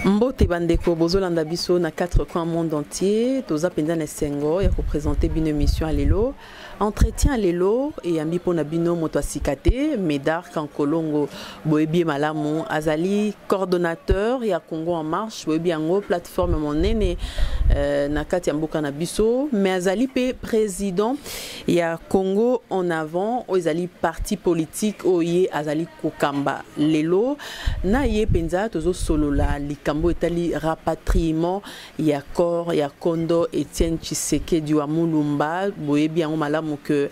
mbote bandeko bozolanda biso na 4 coin monde entier toza mpenza na esengo ya kopresente bino émission ya lelo entretien ya lelo eyambi mpo na bino moto ya sika te médard kankolongo boyebi ye malamu azali coordonnateur ya congo en marche boyebi yango plateforme monene euh, na kati ya mboka na biso mais azali mpe président ya congo en avant oyo ezali parti politique oyo ye azali kokamba lelo na ye mpenza tozosolola likambo oyo etali rapatriement ya corps ya kondo etienne tshisekedi wa mulumba boyebi yango malamu ke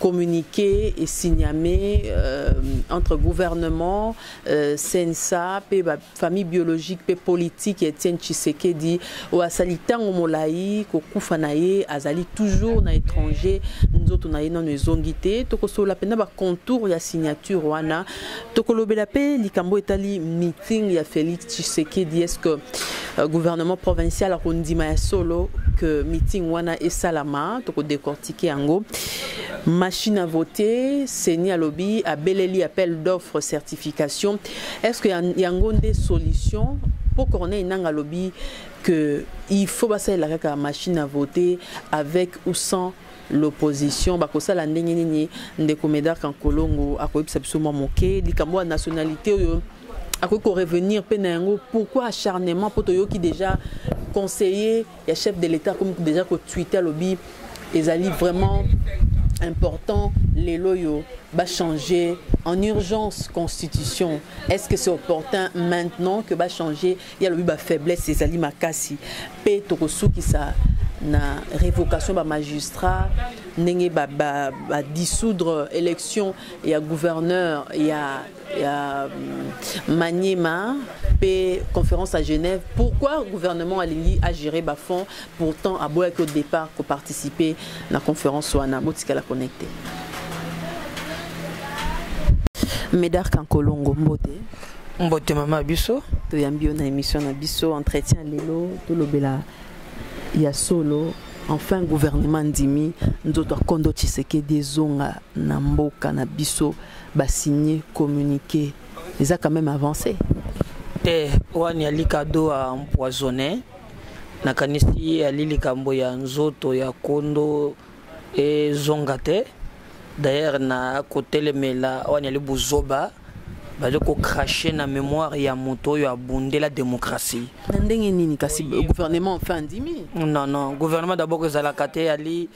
communiqué esigname euh, entre gouvernement euh, sensa mpe bafamille biologique mpe politique ya etienne tshisekedi oyo asali ntango molai kokufa na ye azali toujours na étranger nzoto na ye nano ezongi te tokosolola mpenza bacontour ya signature wana tokolobela mpe likambo etali meeting ya félix tshisekedi est ce que euh, gouvernement provincial akondima ya solo que meeting wana esalama tokodecortike yango machine à voter seni alobi abeleli appel d'offre certification est ce que yango nde solution mpo corneille nanga alobi que il faut basalela kaka machine à voter avec ou sans l'opposition bakosala ndenge nini ndeko Medard Kankolongo akoyebisa biso mwa moke likambo ya nationalité oyo akoki korevenir mpe na yango pourquoi acharnement mpo toyoki déjà conseiller ya chef de l'état akomi déjà kotwite alobi ezali vraiment important lelo oyo bachanger en urgence constitution est ce que c'est opportun maintenant que bachanger ye alobi ba faiblesse ezali makasi mpe tokosukisa na révocation ba magistrat ndenge ba, ba, ba dissoudre élection ya gouverneur ya, ya mm, maniema mpe conférence à genève pourquoi gouvernement alingi agérer bafonds pourtant aboyaki au départ koparticiper na conférence wana botikala connecte médard kankolongo mbote mbote mama biso toyambi yo na émission na biso entretien lelo tolobela ya solo enfin gouvernement ndimi nzoto akondo tshisekedi ezonga na mboka na biso basigne communiqué eza quand même avancé te wani ali kado a empoisonné nakanisi ali likambo ya nzoto ya kondo ezonga te d'ailleurs na kotelemela wana yali buzoba bazali kocrache na mémoire ya moto oyo abundela démocratie na ndenge nini kasi gouvernement enfin andimi non non gouvernement d'abord ezalaka te yali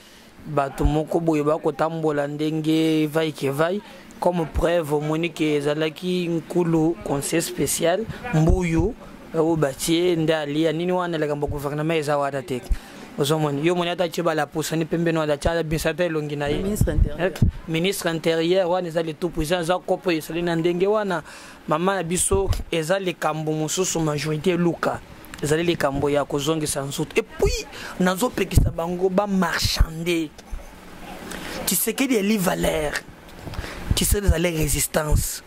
bato moko boye bakotambola ndenge vai ke vai comme preuve omoni ke ezalaki nkulu conseil spécial mbuyu oyo batie nde alia nini wana likambo gouvernement eza wana te ozomoni yo moni ata tie balapusani pembeni wana atia abimisa ata elongi na ye ministre intérieur wana eza le tout puissant eza kopo esali na ndenge wana mama na biso eza likambo mosusu majorité eluka ezali likambo ya kozongisa nzoto epuis nazopekisa bango bamarchande tisekedi eli valeur tisekedi ezali résistance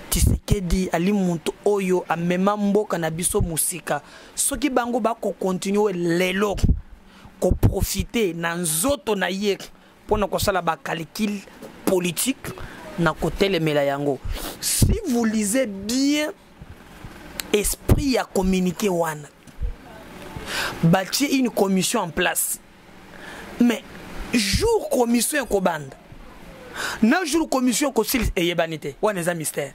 Tshisekedi ali moto oyo amema mboka na biso mosika soki bango bakokontinue lelo koprofite na nzoto na ye mpo na kosala bacalcule politique na kotelemela yango si vous lisez bien esprit ya communiqué wana batie une commission en place mais jour commission ekobanda na jour commission ekosilisa eyebani te wana eza mystère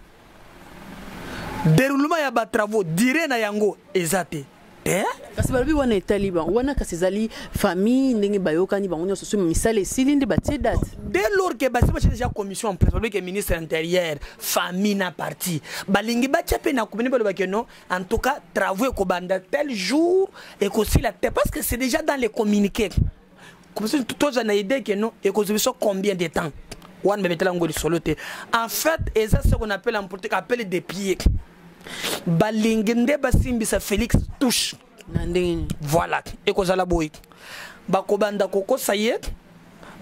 déroulement ya batravaux dire na yango eza te te kasi balobi wana etali bango wana kasi ezali famille ndenge bayokani bango nyonso soki misala esili nde batie date dès lors ke basi batya déjà commission en place balobi ke ministre intérieur famille na parti balingi batya mpe na komini balobake non en tout cas travaux ekobanda tel jour ekosila te parce que c'est déjà dans les communiqués toza na idée ke non ekozwa biso combien de temps wana bebetela yango lisolo te en fait eza ce qu'on appelle en politique appelle des pieds balingi nde basimbisa félix touche na ndenge nini voilà ekozala boye bakobanda kokosa ye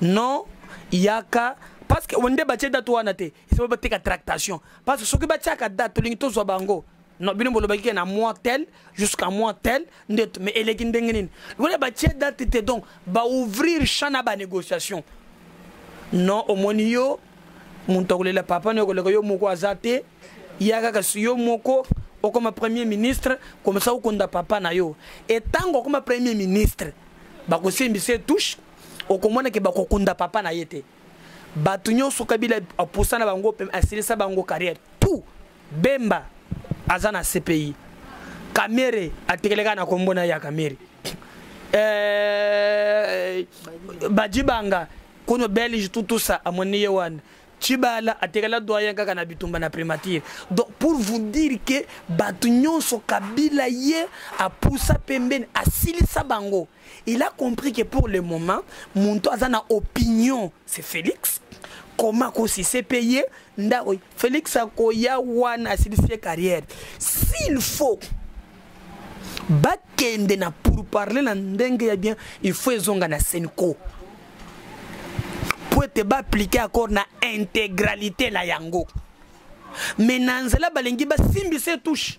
non yaka parce que nde batie date wana te sikoyo bateka tractation parce que soki batiaka date tolingi tozwa bango non bino bolobaki ke na mois tel jusqu'à mois tel nde mais eleki ndenge nini lokola batie date te donc baouvrir champ na banégociation non omoni yo moto akolela papa no okoleka yo moko aza te ya kaka yo moko okoma premier ministre komisa okonda papa na yo etango okoma premier ministre bakosimbisa etouche okomona ke bakokunda papa na ye te bato nyonso kabila apusa na bango asilisa bango carrière tout bemba aza na cpi kamere atekeleka na kombo na ya kamere eh, bajibanga kono belge tutusa amoni ye wana chibala atekela doyen kaka na bitumba na primature donc pour vous dire que bato nyonso kabila ye apusa pembeni asilisa bango Il a compris que pour le moment, Monto a une opinion, c'est Félix. Comment qu'on s'est payé Félix a koya wana sa carrière. S'il faut, bakende na pour parler na ndenge ya bien, il faut ezonga na Senko. Pour te ba appliquer accord na intégralité la yango. Mais na nzela balingi ba simbi se touche.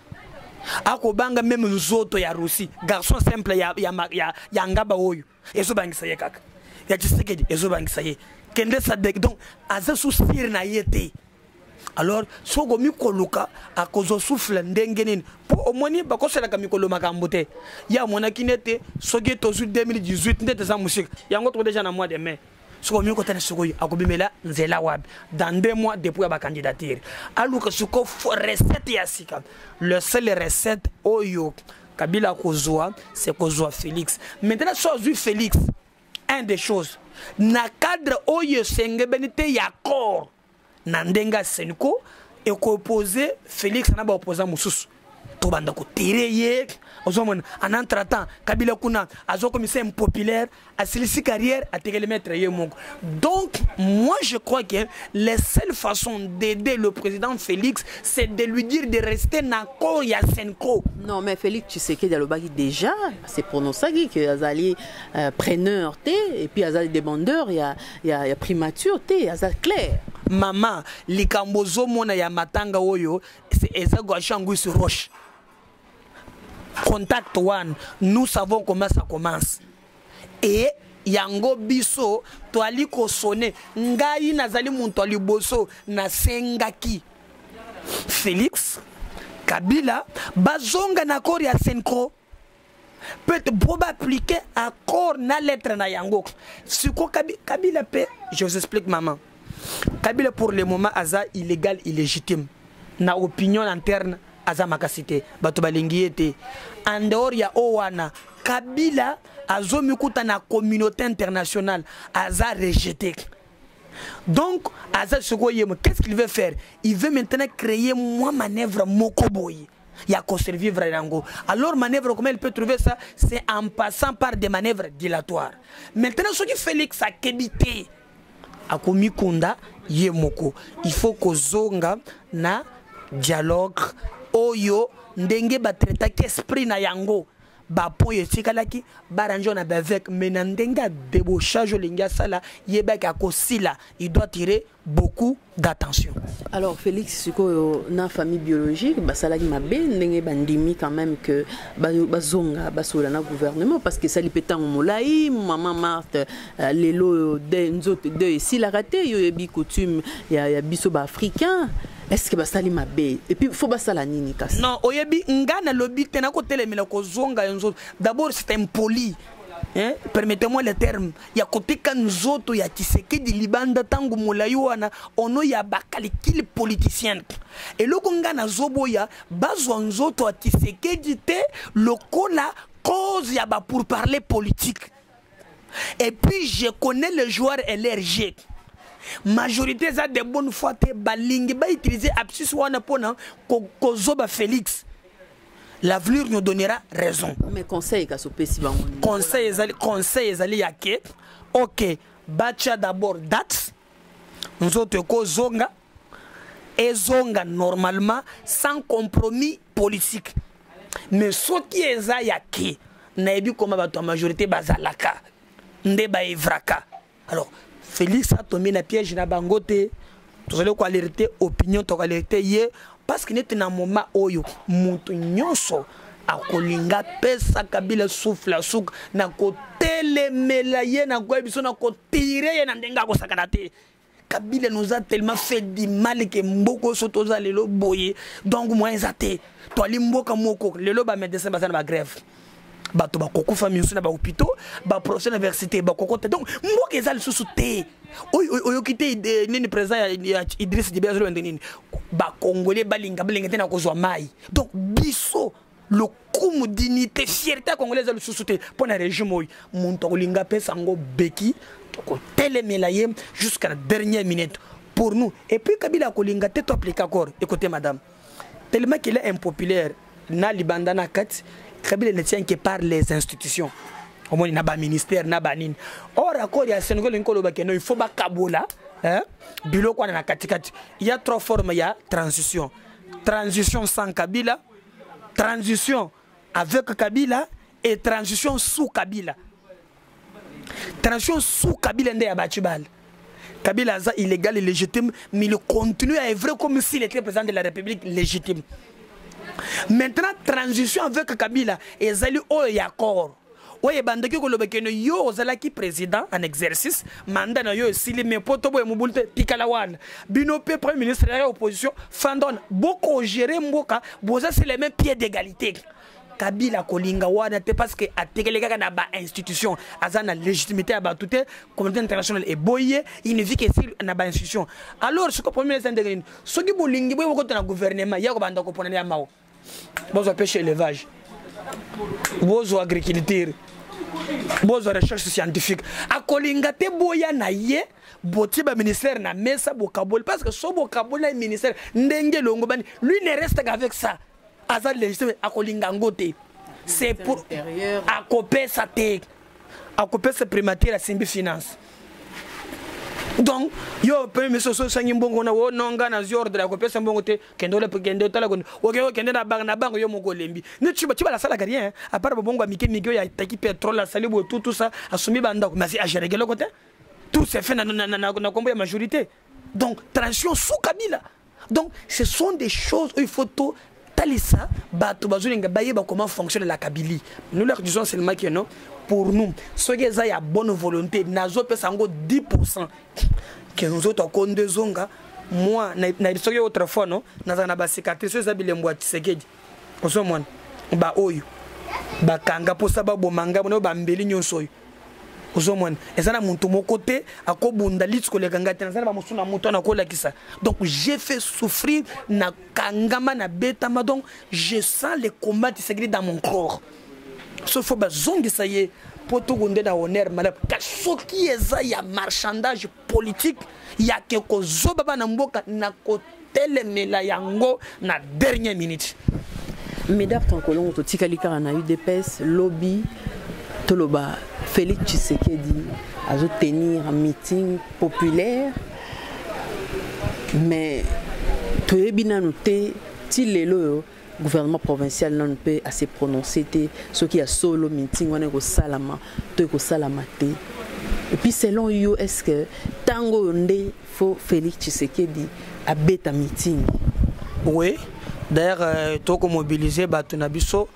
akobanga meme nzoto ya russi garçon simple ya, ya, ya, ya ngaba oyo ezobangisa ye kaka ya tshisekedi ezobangisa ye kende sadek donc aza susire na ye te alors soki okomi koluka akozwa souffle ndenge nini mpo omoni bakosalaka mikolo makambo te ye amonaki nete soki tozwi 2018 nde teza mosika yango toko deja na mois de mai soko omi okotana soko oyo akobimela nzela wapi dans deux mois depuis ya bacandidature aluka soko recette ya sika le seul recette oyo kabila akozwa se kozwa félix maintenant so azwi félix un des choses na cadre oyo esengebeni te ya corps na ndenge ya senco ekopoze félix na baopposant mosusu tobanda kotere ye ozomona en entretemps kabila kuna azokomisa impopulaire asilisi carrière atekeli maître ye moko donc moi je crois que la seule façon d'aider le président félix c'est de lui dire de rester na koo ya senco non mais félix tshisekedi alobaki déjà se prononcaki que azali euh, preneur te et puis azali demandeur ya ya, ya primature te aza claire mama likambo ozomona ya matanga oyo eza guashanguis roche contact one nous savons comment ça commence et yango biso toali kosone ngai nazali moto ya liboso nasengaki félix kabila bazonga na accord ya senco peut po ba appliquer accord na lettre na yango siko kabila pe je vous explique maman kabila pour le moment aza illégal illégitime na opinion interne aza makasi te bato balingi ye te en dehors ya oyo wana kabila azomikuta na communauté internationale aza rejete donc aza sikoyo ye qu'est ce qu'il veut faire il veut maintenant créer mwa manœuvre moko boye ya ko survivre yango alors manœuvre comment il peut trouver ça c'est en passant par des manœuvres dilatoires maintenant soki Félix akebi te akomikonda ye moko il faut kozonga na dialogue oyo ndenge batraitaki esprit na yango bapo oyo etikalaki barange na bavec mais na ndenge ya debauchage olingi asala yebaki akosila il doit tirer beaucoup d'attention. Alors Félix sikoyo na famille biologique basalaki mabe ndenge bandimi quand même que bazonga basola na gouvernement parce que sali petango molai maman Marthe euh, lelo de nzoto de esilaka te yo yebi coutume ya, ya biso ba africain est-ce que basali mabe et puis faut basala nini kasi non oyebi nga na lobi te nakotelemela kozonga yo nzoto d'abord c'est impoli hein? permettez-moi le terme ya koteka nzoto ya kisekedi libanda ntango molai wana ono ya bakalikili politicienne eloko ngai nazoboya bazwa nzoto ya kisekedi te lokola cause ya ba pour parler politique et puis je connais le joueur lrg majorité eza de bonne foi te balingi bautilize absus wana mpona kozoba ko félix l'avenir nous donnera raison mais conseil kasi opesi bango conseil ezali conseil ezali ya ke ok batya d'abord date nzoto ekozonga ezonga normalement sans compromis politique mais soki eza ya ke nayebi koma bato ya majorité bazalaka nde baevraka alors félix atombi na piège na bango te tozali koalerte opinion tokoalerte ye parce que neti na moment oyo moto nyonso akolinga pesa kabila souffle ya suka na kotelemela ye na koyebi biso na kotire ye na ndenge akosakana te kabila nous a tellement fait du mal que mboko so toza lelo boye donc moyen eza te toali mboka moko lelo ba médecin baza na ba grève bato bakokufa miso na bahopitaux baprofesseur na université bakokota donc mboka eza lisusu te oyoki te eh, nini président ya idris dibe azolobende nini bakongole balinga balinga te na kozwa mai donc biso lokumu dignité fierté ya congolais eza lisusu te mpo na régime oyo moto akolinga apesa yango beki tokotelemela ye jusqu'à la dernière minute pour nous et puis kabila akolinga te to applique accord écoutez madame tellement qu'il est impopulaire na libanda na kati kabila ne tient que par les institutions omoni na baministère na banini or accord ya sengo elingi koloba keno il faut bakabola hein? biloko wana na katikati ya trois forme ya transition transition sans kabila transition avec kabila et transition sous kabila transition sous kabila nde ya baci bale kabila aza illégal et légitime mais il continue à œuvrer comme s'il était président de la république légitime maintenant transition avec kabila ezali oyo ya corps oyo ebandaki koloba kende yo ozalaki président en exercice manda na yo esili mais mpo toboye mobulu te tikala wana bino mpe premier ministre ya opposition fandona bokogere mboka boza se le même pied d'égalité kabila kolinga wana te parce que atekele kaka na bainstitution aza na légitimité ya bato te communauté internationale eboyi ye inivike esili na bainstitution alors soki premier ministre ndenge nini soki bolingi boye bokota na gouvernement ya kobanda koponana ya mawa bozwa pêche élevage bozwa agriculture bozwa recherche scientifique akolinga te boya na ye botie baministère na mesa bokaboli parce que so bokaboli na ministère ndenge elongobani lui ne reste qu'avec ça aza légitime akolinga yango te c'est pour akopesa te akopesa primature asimbi finance donc yo premier ministre oso osangi mbongo na o no ngai nazwi ordre ya kopesa mbongo te kende ole kende otala kende oke okende na bango na bango yo moko olembi ne ti ti balasalaka rien à part babongo ya mike mike oyo ataki pétrole asali boye tout tout ça asombi bandako mais agereke eloko te tout se fait na nkombo ya majorité donc transition sous kabila donc ce sont des choses oyo il faut to talisa bato bazolinga bayeba comment fonctionne la kabili nous leur disons seulement que non pour nous soki eza ya bonne volonté nazopesa yango 10 pourcent ke nzoto akonde ezonga moi na soki autrefois no nazala na bacicatrice oyo eza bilembo ya tisekedi ozomona baoyo bakanga mposa baboma ngai bona oyo bambeli nyonso oyo ozomona eza na moto moko te akobunda liti koleka ngai te naza na bamosusu na moto wana akolakisa donc j'ai fait souffrir na kangama na betama donc je sens le combat tisakili dans mon corps so fo bazongisa ye mpo tokonde na honneur malamu kasi soki eza ya marchandage politique ya ke kozoba bana mboka na kotelemela yango na dernière minute medar tankolongo totikali kaka na udps lobi toloba félix tshisekedi azotenir meeting populaire mais toyebi nanu te ti lelo oyo gouvernement provincial nanu mpe ase prononce te soki ya solo meeting wana ekosalama to ekosalama te epuis selon yo est ce que ntango oyo nde fo félix tshisekedi abeta meeting oui d'ailleurs euh, tokomobilize bato na biso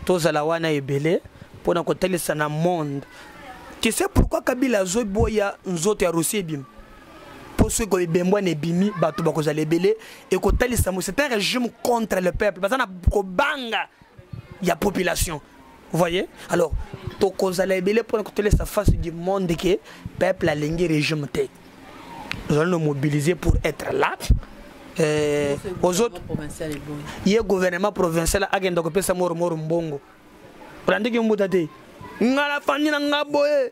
tozala wana ebele mpo na kotalisa na monde tu sais pourquoi kabila azoboya nzoto ya rosi ebima mpo soki koebembwana ebimi bato bakozala ebele ekotalisa mo c'est un régime contre le peuple baza na kobanga ya population voyez alors tokozala ebele mpona kotolesa face du monde ke peuple alingi régime te ozali no mobiliser pour être là eh, ozoto ye gouvernement provincial akenda kopesa moromoro mbongo olandiki mbuta te ngai nafandi na ngai boye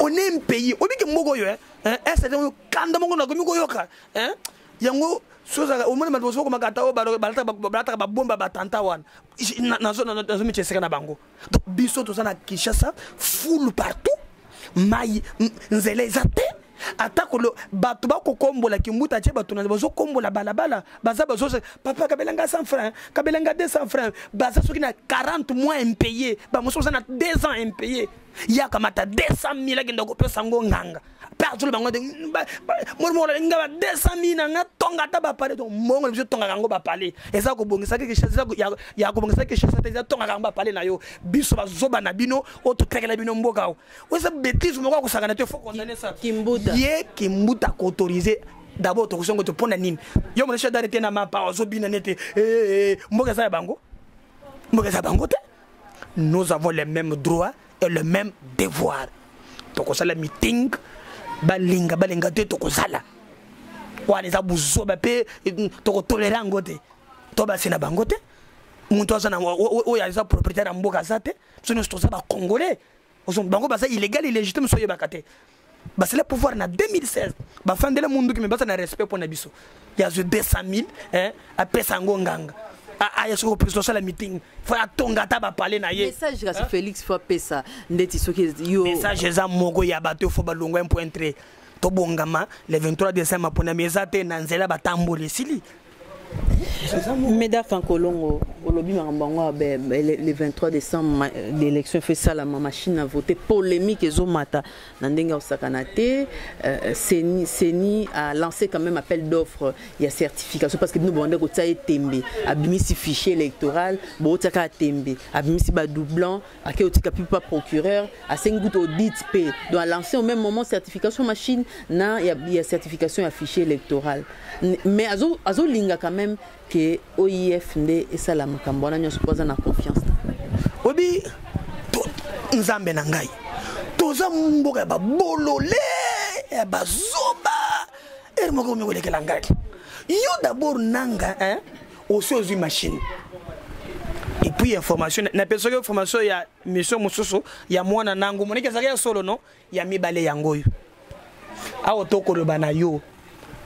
on est un pays oyebi ke mboka oyo esete oyo kanda moko nakomi koyoka yango sozala omoni bato mosusu okomaka ata oyo balataka babomba batanta wana nazomitya esika na bango donc biso toza na kinshasa fulu partout mai nzela eza te atako bato bakokombola kimbuta tie bato na bazokombola balabala baza bazo papa kabela nga 100 franc kabela nga 200 franc baza soki na 40 mois impayé bamosusu baza na 2 ans impayé ye akamata 200 mille akenda kopesa yango nganga mpe azoli bango te molimokolali nga ba 200 mille na nga tonga ata bapale to mbongo na biso tongaka yango bapale eza kobongisaki ya kobongisaki kishasa te eza tongaka yango bapale na yo biso bazoba na bino oyo totekela bino mboka oza betise moko akosakana te fo condamne sa ye kimbuta koautorise d'abord tokosongo te mpo na nini yo mona shadare te na mapa ozobina ne te eh, eh, eh, mboka eza ya bango mboka eza bango te nous avons les mêmes droits et le même devoir tokosala meeting balinga balinga te tokozala wana eza buzoba mpe mm, tokotolera yango te to basi na bango te moto aza na oyo aza propriétaire ya mboka aza te biso nyonso toza bacongolais ozo bango baza illégal illégitime so yebaka te basala pouvoir na 2016 bafandela munduki me baza na respect mpo na biso ya zwe 200000 eh, apesa yango nganga aya soki opesi tosala meeting fo atonga ata bapale na ye message kasi félix fo apesa ndeti soki yo message eza moko ya bato fo balongwa ya mpo intre tobongama le 23 décembre maponami eza te na nzela batamboli esili Meda Kankolongo, olobi makambo yango le 23 décembre l'élection efe esalama machine à voter polémique ezomata na ndenge ya kosakana te euh, seni, seni a lancé quand même appel d'offre ya certification parce que bino bobanda kotia ye tembe abimisi fichier électoral bootia kaka tembe abimisi badoublon ake otika mpe pa procureur asengi kutu audit mpe donc alance au même moment certification machine na ya, ya certification ya fichier électoral mais azolinga azo, azo quand même ke oif nde esala makambo wana nyonso mpo aza na confiance obi nzambe na ngai toza mboka ya babolole ya bazoba ere moko omi kolekela ngai yo dabord nanga eh? osi ozwi machine epuis ya formation napesaki yo formation ya mission mosusu ya mwana nango moniki ezalaki ya solo no ya mibale yango oyo awa tokoloba na yo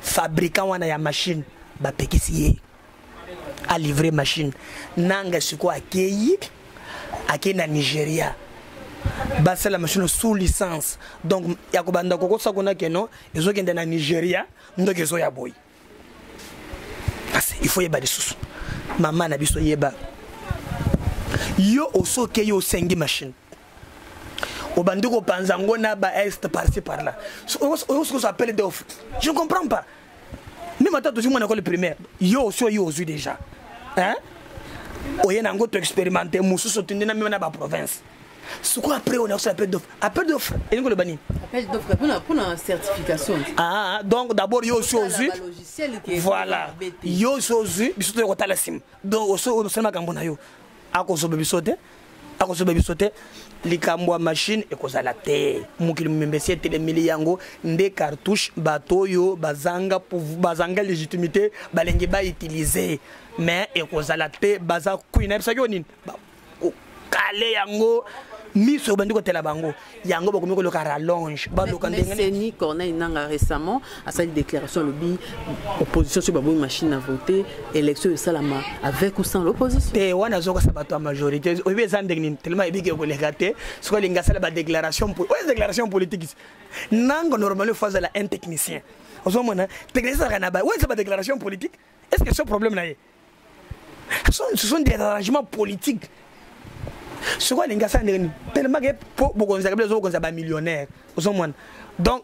fabrikant wana ya machine bapekisi ye alivre machine nanga sikoyo akei akei na nigeria basala machine sous licence donc ya kobanda kokosakona keno ezokende na nigeria ndoki ezoya boye kasi il faut yeba lisusu mama na biso yeba yo osoke yo osengi machine obandi kopanza yango na ba est parci par là oyosokoso appele de ofuti je ne comprends pas meme ata tozwi mwana ekole primaire yo osi oyo ozwi déjà hein oye na yango toexpérimente mosusu otindi na meme na baprovince sikoyo après on aosa appel d'offre appel d'offre elingi koloba nini appel d'offre mpona mpona certification ah donc d'abord yo osi ozwi voilà yo osi ozwi biso toya kotala nsima donc osi osali makambo na yo akozoba biso te akozoba biso te likambo ya mashine ekozala te mokili momembe esi etelemeli yango nde cartouche bato oyo bazanga, bazanga légitimité balenge bautilize mais ekozala te baza kui nayebisaki yo nini kokale yango miso obandi kotela bango yango bakomi koloka rallonge baloka ndengeni corneille nanga récemment asali déclaration alobi opposition soki baboyi machine à voter élection esalama avec ou sans l'opposition te wana azokasa bato ya majorité oyebi eza ndenge nini telema ebiki ekoleka te soki alingi asala badéclaration oyo déclaration politique nanga normalement fo azala un technicien ozomona technicien ezalaka na ba oyo eza badéclaration politique est ce que ce problème na ye ce sont des arrangements politiques sikoyo alingi asala ndenge nini tellement ke mpo bokonzaka bino ozobokonza bamillionnaire ozomona donc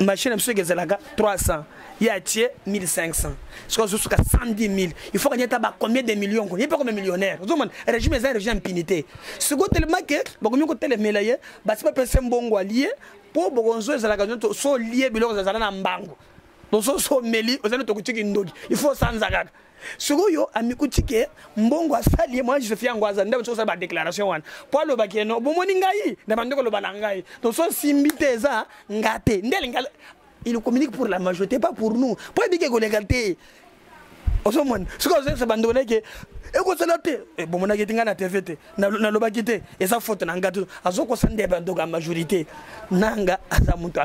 machine na biso eke ezalaka 300 ye atie 1500 sikoyo azosuka 110 000 il faut kanyata ba combien de millions ko ye mpe kome millionnaire ozomona régime eza régime impunité sikoyo tellement ke bakomi kotelemela ye basi bapesa mbongo alie mpo bokonzo ezalaka so lie biloko ezala na mbango mososo omeli oza nde tokuti kindoki il faut osanza kaka sikoyo amikuti ke mbongo asali ye mwana josefi yango aza nde osala badéclaration wana mpo alobaki yeno bomoni ngai na bandi koloba na ngai toso simbi te eza nga te nde alinga il communique pour la majorité pas pour nous mpo ebiki ekoleka te ozomona soki ozoyebisa bandeko na yeke ekosala te eh, bomonaki ete ngai na tv te nalobaki te eza foto na ngai azokosa nde bandoko ya majorité nanga aza moto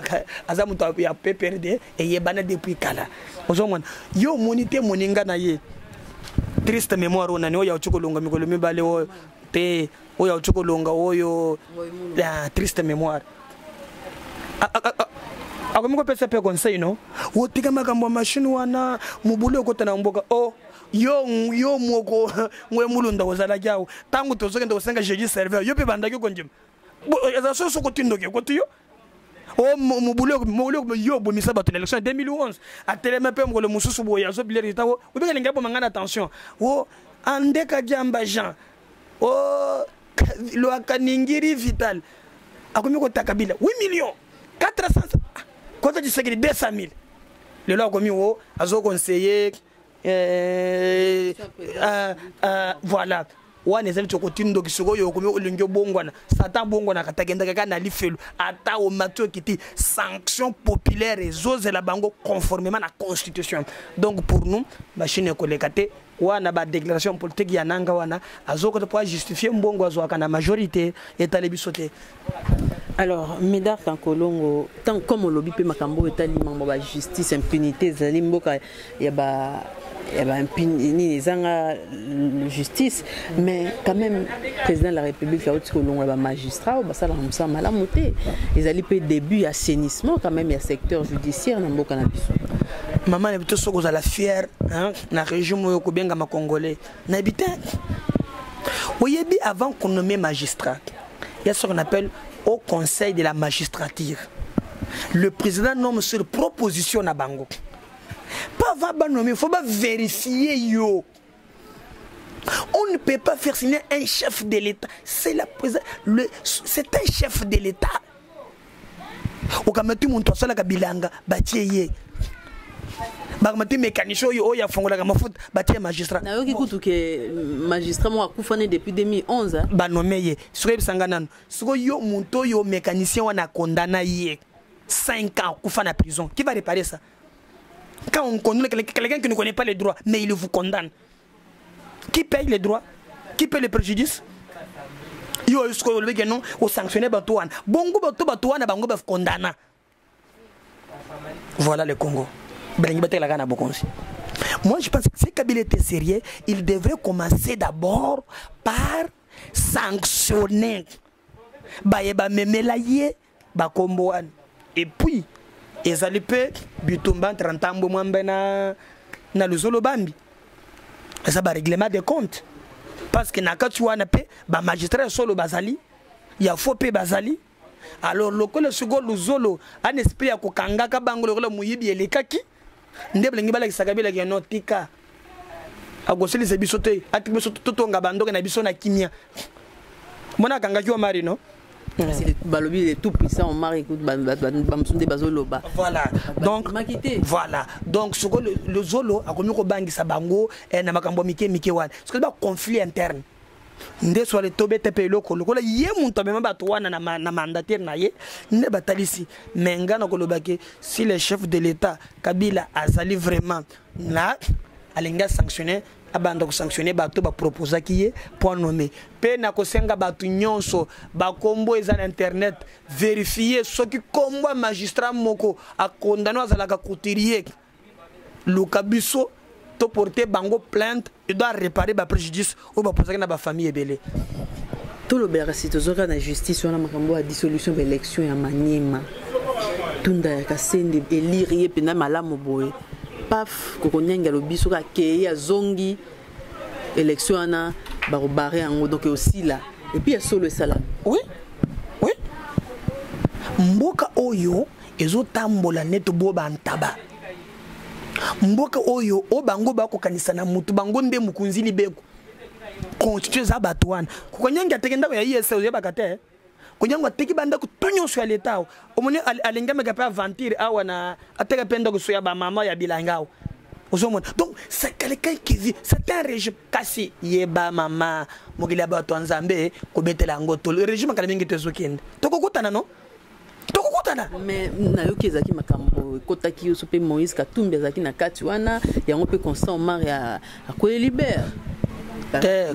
aza moto ya pprd eyebana depuis kala ozomona ye omoni te moninga na ye triste mémoire oyo nani oyo auti kolonga mikolo mibale oyo mpe oyo auti kolonga oyo ah, triste mémoire ah, ah, akomi kopesa mpe conseil no otika makambo ya mashine wana mobulu okota na mboka o oh, yo yo moko ngwe mulunda ozalaki awo ntango tozokende kosenga jeudi serveur yo mpe bandaki kondima eza soso kotindoki ekoti yo oh, mobulu yo obomisa bato na élection ya 2011 atelema mpe mokolo mosusu boye azobilerita o obikalingi abomanga na tension o oh, andeka diamba jean o luaka ningiri vital akomi kota kabila 8 million 400 kota tshisekedi 200 mille lelo akomi o azo conseiller eh, uh, uh, voilà wana ezali ti okoti ndoki sikoyo okomi olingi obongwana satan abongwanaka ata kendaka kaka na lifelo ata omati okiti sanction populaire ezozela bango conformément na constitution donc pour nous machine ekoleka te wana ba déclaration politique ya nanga wana azokota mpo ajustifier mbongo azwaka na majorité etali biso te alors médard kankolongo ntango comme olobi mpe makambo oyo etali mambo ba justice impunité ezali mboka ya ba ya ba nini ezanga justice mais quand même président de la république auti kolongola bamagistrat oyo basalaka mosala malamu te ezali mpe début ya assainissement quand même ya secteur judiciaire na mboka na biso mama na bito soki ozala fière na regime oyo kobengama congolais nayebi te oyebi avant konomme magistrat ya ce qu'on appelle au conseil de la magistrature le président nomme sur proposition na bango pas va banomme il faut ba vérifier yo on ne peut pas faire signer un chef de l'état c'est la c'est un chef de l'état okamati moto asalaka bilanga batie ye bakamati mécanicien oyo oyo afongolaka mafuta batie magistrat nayoki kutu ke magistrat moko akufa ne depuis 2011 banome ye soki oyebisa ngai nano soki yo moto oyo mécanicien wana akondana ye 5 ans akufa na prison qui va réparer ça quand on condamne quelqu'un qui ne connaît pas le droit mais il vous condamne qui paye les droits qui paye les préjudices yo oyo sikoyo olobeki yano osanctionne bato wana bongo bato bato wana bango bakondana voilà le congo balingi batekelaka na bokonzi moi je pense que si kabila était sérieux il devrait commencer d'abord par sanctionner baye bamemela ye bakombo wana epuis ezali mpe bitumba entre ntambwe mwambe na, na luzolo bambi eza bareglement de compte parce que na kati wana mpe bamagistrat ya solo bazali ya fo mpe bazali alors lokola sikoyo luzolo ana esprit ya kokangaka bango lokola moyibi elekaki nde bilengi balakisaka bilaki ya no tika akosilisa biso te atika biso totonga bandoke na biso na kimia mona akangaki wa mari no balobi le tout puissant omar ekut bamosu nde bazoloba voilà donc voilà donc soko lozolo akomi kobangisa bango eh, na makambo ya mike mike wana soki baconflit interne nde swale tobeta mpe eloko lokola ye moto amema bato wana na, ma, na mandataire na ye nde batalisi me ngai nakoloba ke si le chef de l'état kabila azali vraiment na alingi asanctionne abanda kosanctionne bato baproposaki ye mpo anome mpe nakosenga bato nyonso bakombo eza na internet verifie soki kombo ya magistrat moko akondano azalaka couturier luka biso to porter bango plainte il doit réparer ba préjudice oyo bapozaki na bafamille ebele tolobelaka si tozoka na justice wana makambo ya dissolution ba élection ya maniema tunda ya kasende elire ye mpenza malamu boye paf kokonyangi alobi soki akei azongi élection wana bakobare yango donc osila epuis ya solo esalami oui oui mboka oyo ezotambola neti bo bantaba mboka oyo o bango bakokanisa na mutu bango nde mokonzi libeko constitution eza bato wana kokonyangi ateke ndako ya isa oyebaka te eh? konyango ateki bandako to nyonso ya leta awa omoni alengameka mpe aventure awa na ateka mpe ndako so ya bamama ya bilanga awa ozomona donc c'est quelqu'un qui vit c'est un régime kasi yeba mama mokili ya bato ya nzambe kobetela yango tolo régime akala mingi to ezokende tokokutana no tokokutana mais nayoki ezalaki makambo ekotaki yo so mpe moïse katumbi azalaki na kati wana yango mpe constant omar akweli libere te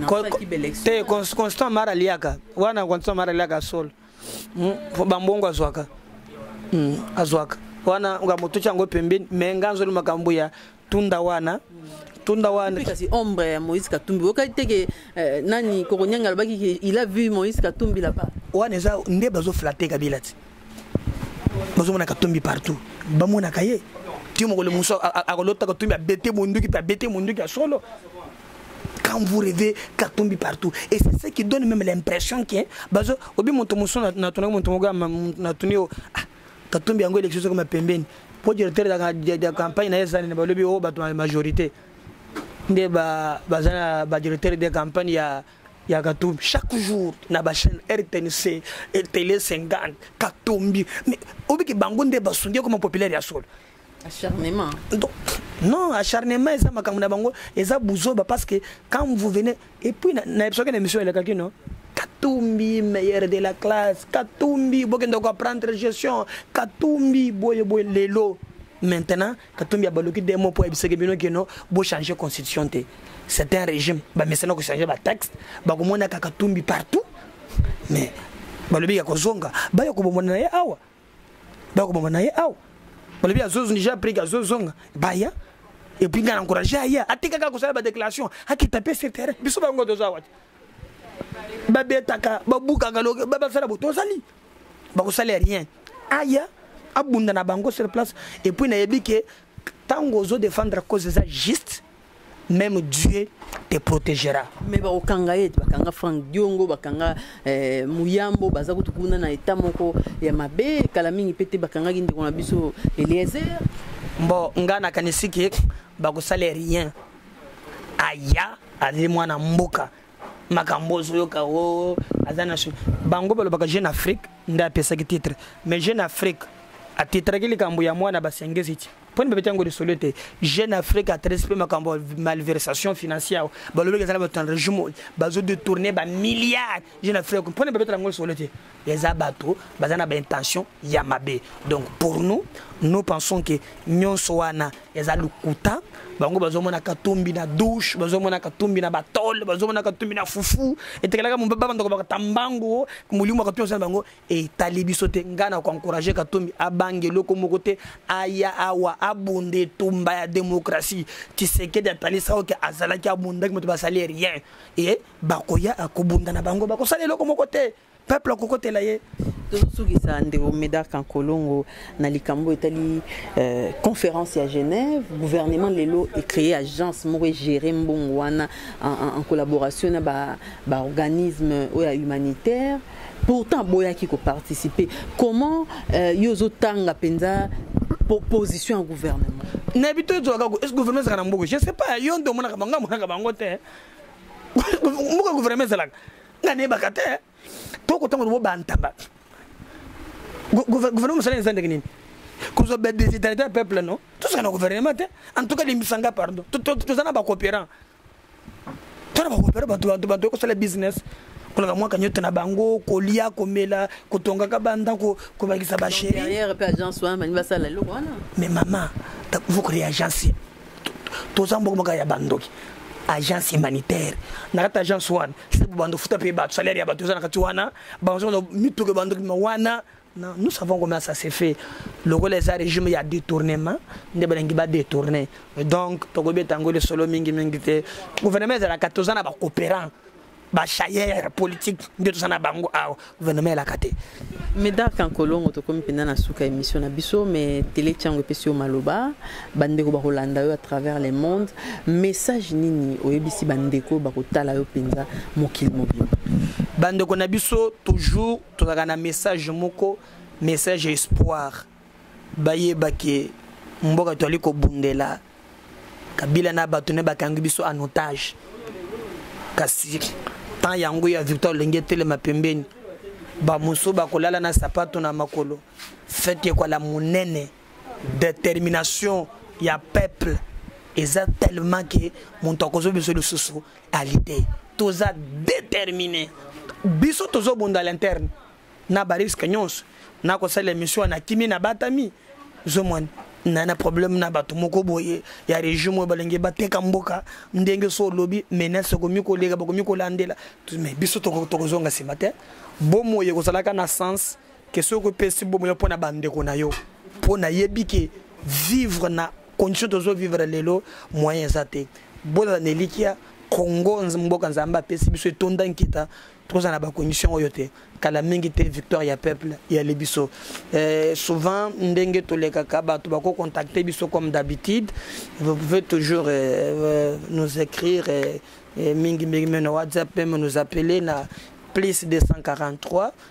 te constant mara aliaka wana constant mara aliaka solo hmm, bambongo azwaka hmm, azwaka wana ngambo totia yango pembeni me nga nzoli makambo ya tunda wana tunda wana kasi ombre ya moïse katumbi okaki te ke eh, nani kokonyanga alobaki ke il a vu moïse katumbi là-bas wana eza nde bazoflate kabila ti bazomona katumbi partout bamonaka ye ti mokolo mosusu akolota katumbi abete monduki mpe abete monduki ya solo quand vous rêvez katumbi partout et c'est ce qui donne même l'impression que bazo obi moto mosusu natunaki moto moko natuni yo ah, katumbi yango élection soko mapembeni mpo directeur ya campagne na ye ezali na balobi oyo oh, bato ya majorité nde baza na badirecteur de campagne ya ya katumbi chaque jour na bachaîne rtnc tele 50 katumbi mais obiki bango nde basundi ekoma populaire ya solo acharnement donc non acharnement eza makambo na bango eza buzoba parce que quand vous venez et puis na episode na émission elekaki non katumbi meilleur de la classe katumbi bokende ko apprendre gestion katumbi boye boye lelo maintenant katumbi abaluki de mot mpo ayebisaki bino kino bochange constitution te c'est un régime bamesana kochange batexte bakomonaka katumbi partout mais balobi ya kozonga baya kobomona na ye awa bakoboma na ye awa balobi azozonija aprike azozonga baya epuis ngai na encourage aya atikaka kosala badéclaration akita mpe se terrain biso bango toza wati babetaka babukaka basala bo tozali bakosala rien aya abunda na bango sur place epuis nayebi ke ntango ozo défendre cause eza juste même Dieu te protégera. Mais ba okanga ye, bakanga Frank Diongo, bakanga eh, Muyambo, baza kutu kuna na état moko ya mabe, kala mingi pete bakanga ki ndeko na biso Eliezer. Mbo nga na kanisi ki bakosala rien. Aya azali mwana mboka makambo ozoyoka o oh, aza na bango balobaka jeune afrique nde apesaki titre mais jeune afrique atitraki likambo ya mwana basengezi ti poni babeti yango lisolo ete jeune afrique atresi mpe makambo ya malversation financière balobeki ezala bato na regime oyo bazo détourne bamilliard jeune afrique mpona babetela yango lisolo ete eza bato baza na baintention ya mabe donc pour nous nous pensons ke nyonso wana eza lokuta bango bazomona katumbi na douche bazomona katumbi na batole bazomona katumbi na fufu etekelaka babandako bakata mbango molimo ya katumbi asala bango etali biso te ngai na koencourage katumbi abanga eloko moko te aya awa abunda etumba ya demokratie tisekedi atalisa oke azalaki abundaki moto basali rien e bakoya akobunda na bango bakosala eloko moko te peuple akokotela ye tozosukisa ndeko medark nkolongo na likambo etali euh, conférence ya genève gouvernement lelo ecree agence moko egere mbongo wana en, en, en collaboration na baorganisme ba oyo ya humanitaire pourtant boyaki ko participer comment euh, yo ozotanga mpenza position ya gouvernement nayebi to ezwaka est ce gouvernement ezalaka na mboka je sais pas yo nde omonaka bango amonaka bango te mboka gouvernement ezalaka nga nayebaka te to kotanga lobo bantaba gouvernement mosala eza ndenge nini kozwa badesitalite ya peuple no tosaka na gouvernement te en tout cas limbisa nga pardon toza na bacoopérant tona bakopere bato bato bato ekosala business kolaka mwa kanyoto na bango kolia komela kotongaka bandako kobakisa basheriere mpe agence wana balingi basala eloko wana mais mama vous créer agence toza mboko moko ya bandoki agence humanitaire na kati agence wana se bobanda ofuta mpe bato salaire ya bato eza na kati wana bango mituka bandoki ma wana Non, nous savons comment ça s'est fait. Le rôle des régimes, il y a détournement. Il y a détourné. Donc, Togo Betango, le solo mingi mingi. Le gouvernement, il y a 14 ans, il y a coopérant. bachaire politique nde toza na bango awa gouvernement elaka te medark ankolongo tokomi mpenza na suka ya émission na biso mais tele tiango epesi yo maloba bandeko bakolanda yo à travers le monde message nini oyebisi bandeko bakotala yo mpenza mokili mobimba bandeko na biso toujours tozalaka na message moko message ya espoir bayeba ke mboka toali kobundela kabila na bato ne bakangi biso en otage kasi temps yango ya victoire olenge etelema pembeni bamosusu bakolala na sapato na makolo fete ekwala monene determination ya peuple eza tellement ke moto akozwa biso lisusu qualité toza déterminé biso tozobunda l'interne na bariske nyonso nakosala émission wana kimi na batami zomwani na na problème na bato moko boye ya regime oyo balingi bateka mboka ndenge so olobi menace ekomi koleka bakomi kolandela mais biso tokozonga nsima te bomoi ekozalaka na sens question ko pesi bomo yo pona bande ko na yo pona yebi ke vivre na condition tozo vivre lelo moyen eza te bola na elikia congo mboka nzambe apesi biso etonda nkita tokozala na bacondition oyo te kala mingi te victoire ya peuple eyali biso eh, souvent ndenge tolekaka bato bakocontacte biso comme d'habitude vous pouvez toujours eh, euh, nous écrire eh, eh, mingi mingi me na whatsapp meme nous appeler na plus 243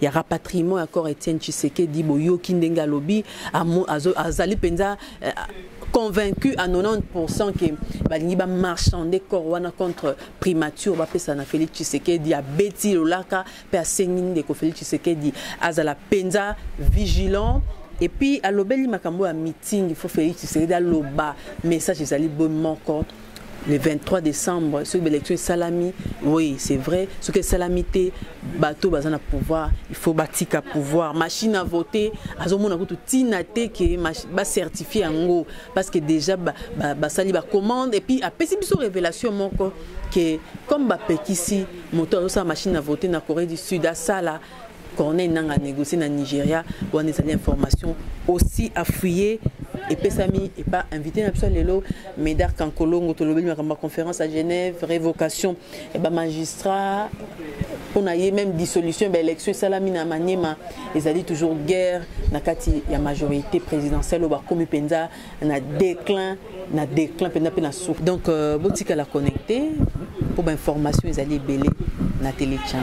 ya rapatriement ya corps Etienne Tshisekedi boyoki ndenge alobi azali penza eh, convaincu à 90% que balingi ba marchander corps wana contre primature ba pesa na Félix Tshisekedi a beti lolaka pe asengi ndeko Félix Tshisekedi azala penza vigilant et puis alobeli makambo ya meeting il faut Félix Tshisekedi aloba message ezali bon moko le 23 décembre soki baélection esalami oui c'est vrai soki esalami te bato baza na pouvoir il faut batika pouvoir machine à voter azomona kutu ntina te ke bacertifie yango parce que déjà basali ba, ba bacommande et puis apesi biso révélation moko ke comme bapekisi moto azosala machine à voter na corée du sud asala Corneille Nanga négocié na Nigeria wana ezali information aussi à fouiller epesami epa invité na biso lelo Médard Kankolongo tolobeli makambo ya conférence à Genève révocation et ba magistrat on a eu même dissolution ba élection esalami na Maniema ezali toujours guerre na kati ya majorité présidentielle oyo bakomi mpenza na déclin na déclin mpenza mpe na suka donc euh, botikala connecté mpo bainformation ezali ebele na telechan